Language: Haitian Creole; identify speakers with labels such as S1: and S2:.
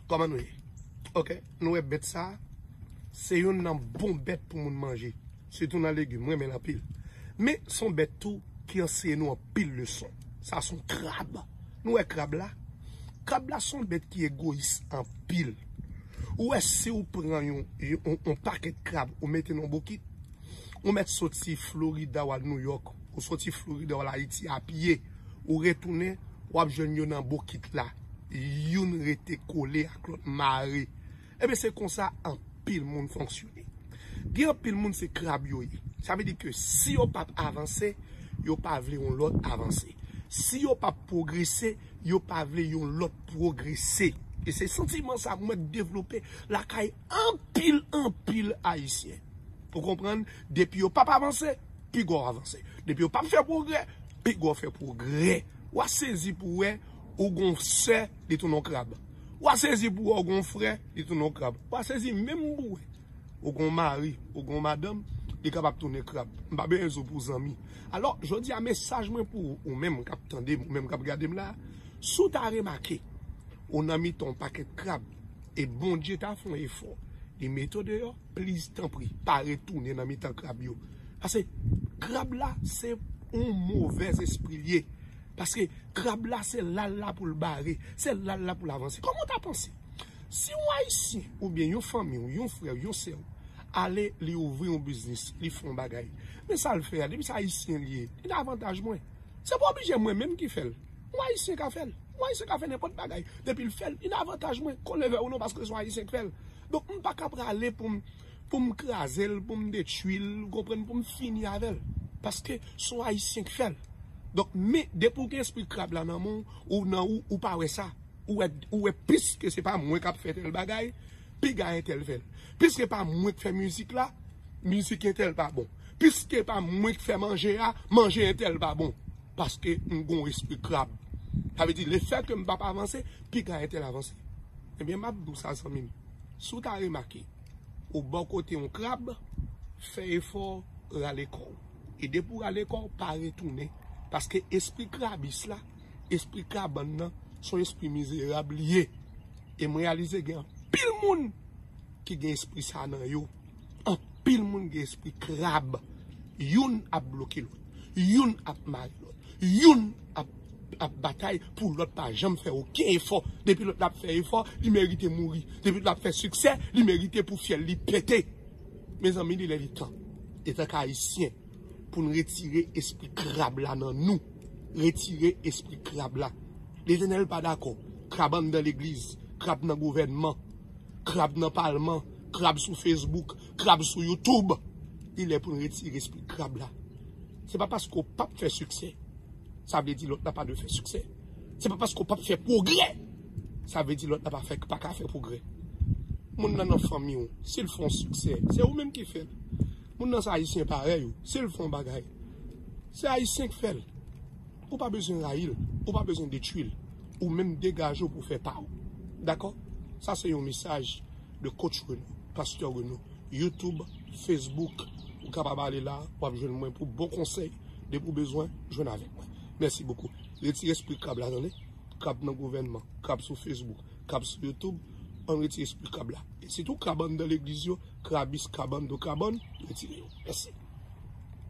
S1: Koman nou ye? Ok, nou e bet sa Se yon nan bon bet pou moun manje Se tou nan legi mwen men anpil Men son bet tou ki anseye nou anpil leson Sa son krab Nou e krab la? Krab la son bet ki e goyis anpil Ou e si ou pran yon paket krab ou mete nan bokit Ou mèt soti Florida wal New York, ou soti Florida wal Ayiti a pye, ou retounen, wap jwenn yo nan bokit la, youn rete kole ak lòt mare. Ebyen se konsa anpil moun fonksyone. Gen anpil moun se krab yo ye. Sa vle di ke si yo pap avanse, yo pa vle yon lòt avanse. Si yo pap pwogrese, yo pa vle yon lòt pwogrese. E se santiman sa mwen devlope lakay. Anpil anpil ayisyen ou konprann depi yo pap avanse piga w avanse depi yo pap fè pwogrè piga w fè pwogrè wa sezi pou wè ou gon sè li tounen w krab wa sezi pou wè ou gon frè li tounen w krab wa sezi menm pou wè ou gon mari ou gon madanm li kapab tounen krab m pa bezwen di w pou zanmi alò jodi a mesaj mwen pou ou menm kap tande m ou menm kap gade m la si w ta remake ou nan mitan yon pakèt krab. E Bondye ta fè yon efò li mete w deyò, pliz tanpri pa retounen nan mitan krab yo. Pase krab la se yon movèz espri l ye. Pase krab la se la l la pou l bare, se la l la pou l avanse. Kòman w ta panse si yon ayisyen oubyen yon fanmi w, yon frè w, yon sè w ale li ouvri yon biznis, li fè yon bagay men sa l fè a depi se ayisyen li ye, li nan avantaj mwen. Se pa oblije mwen menm ki fè l. Yon ayisyen ka fèl. Yon ayisyen ka fè nenpòt bagay depil fèl. Yn avantaj mwen konnen vè ou non paske son ayisyen k fèl. Donk m paka prale poum poum krazel, poum detwil, ou konprann, poum fini avèl. Paske son ayisyen k fèl. Donk men depi ou gen espri krab la nan menw ou nan ou ou pa wè sa. Ou wè ou wè plis ke se pa mwen kap fè tèl bagay. Piga entèl fèl. Piske pa mwen k fè mizik la, mizik entèl pa bon. Piske pa mwen k fè manje a, manje entèl pa bon. Paske m gon espri krab. Sa vle di lefè ke m pa p avanse, piga entèl avanse. Ebyen m ap di w sa zanmi m, si w ta remake, ou bò kote yon krab, fè efò rale kò w. E depi w rale kò w, pa retounen. Paske espri krabis la, espri kabann nan, son espri mizerab li ye. E m reyalize gen anpil moun ki gen espri sa nan yo. Anpil moun gen espri krab. Youn ap bloke lòt. Youn ap mare lòt. Youn ap batay pou lòt pa janm fè oken efò. Depi lòt la ap fè efò, li merite mouri. Depi lòt la ap fè siksè, li merite pou fyèl li pete. Mezanmi li lè li tan. Etanke Ayisyen. Pou n retire espri krab la nan nou. Retire espri krab la. Letènèl pa dakò. Krab anndan legliz. Krab nan gouvènman. Krab nan palman. Krab sou fesbouk. Krab sou youtoub. Li lè pou n retire espri krab la. Se pa paske w pap fè siksè. Sa vle di lòt la pa dwe fè siksè. Se pa paske w pap fè pwogrè. Sa vle di lòt la pa ka fè pwogrè. Moun nan nan fanmi w. Si l fè yon siksè. Se ou menm ki fè l. Moun nan se ayisyen parèy ou, si l fè yon bagay, se ayisyen k fè l. Ou pa bezwen rayi l, ou pa bezwen detwi l, ou menm degaje w pou w fè pa w. Dakò? Sa se yon mesaj de Coach Renaud, Pasteur Renaud. Youtube, Facebook, ou kapab ale la, w ap jwenn mwen pou bon konsèy. Depi w bezwen, jwenn avèk mwen. Mèsi bokou. Retire espri krab la tande. Krab nan gouvènman, krab sou Facebook. kab sou youtube an retire espri kab la e sitou kabann dan legliz yo krabis kabann do kabann retire yo mèsi.